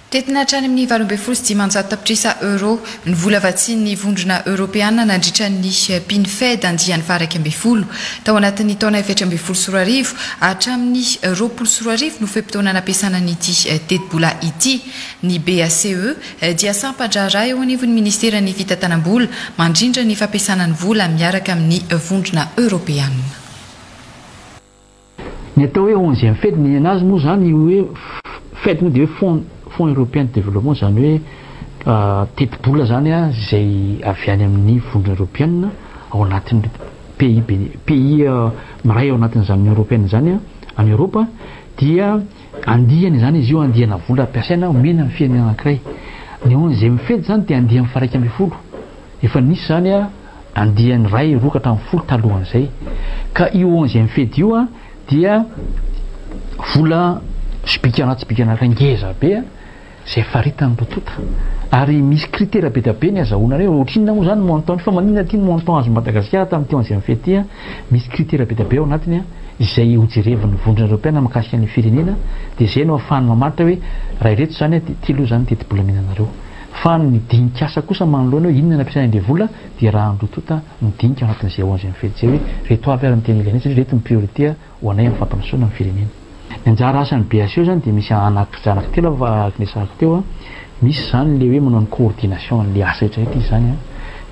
Tetina hatrany amin'ny valo ambin'ny folo sy dimanjato tapitrisa Euro ny vola vatsian'ny Vondrona Eoropeana nandritra ny PNFED andiany faha-iraika ambin'ny folo. Tao anatin'ny taona efatra ambin'ny folo sy roa arivo hatramin'ny roapolo sy roa arivo no fe-potoana nampiasana an'ity tetibola ity. Ny BACE dia sampan-draharaha eo anivon'ny Ministeran'ny Fitantanam-bola mandrindra ny fampiasana ny vola miaraka amin'ny Vondrona Eoropeana. Ny atao hoe onzième fed ny nenazy moa izany io hoe fed moa dia hoe fonds européen de développement izany hoe tetibola izany izay avy any amin'ny vondrona eropeanina ao anatin'ny pays pays miray ao anatin'izany union européenne izany any Eropa dia andiany izany izy io andiana vola ampiasaina omena ny firenena anankiray ny onzième fed izany dia andiany faraika ambin'ny folo Efa nisy izany andiany iray roa ka hatramin'ny folo talohan'izay. Ka io onzième fedy io dia vola sobika anaty sobika anaty ngeza be izay faritan'ireo tonta. Ary misy critère be dia be ny azahoana an'io. Ohatrinona moa izany montant fa maninona ity ny montant azon'i Madagasikara tamin'ity onzième fedy ity? Misy critère be dia be ao anatiny izay hojerevin'ny Vondrona Eropeana mikasika ny firenena dia izay no ahafahany mamaritra hoe raha ireto izany dia ity aloha izany ny tetibola omenanareo. Fa ny dinik'asa kosa manoloana hoe inona ny ampiasaina ny devola dia raha andoha tonta ny dinika ao anatin'izay ao anzay mifidy izay hoe reto avy ary ny tena ilainay satria reto ny priorité ho anay amin'ny fampandrosoana ny firenena. Ny anjara asan'ny BHE zany dia misy anaky zanaka telo ava araka ny resahako teo a, misy izany le hoe manao ny coordination an'le asa rehetra rehetra izy izany a,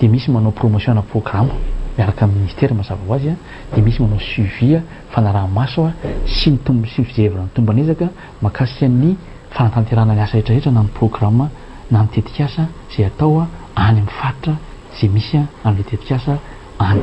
dia misy manao promotion ana programa miaraka amin'ny ministera mazava ho azy a, dia misy manao suivi a, fanaraha-maso a, sy ny tomb sy ny fijerevana ny tomban'ezaka, Mahakasika ny fanatanterahana ny asa rehetra rehetra na ny programa na ny tetikasa izay atao any amin'ny faritra izay misy an'ilay tetikasa any.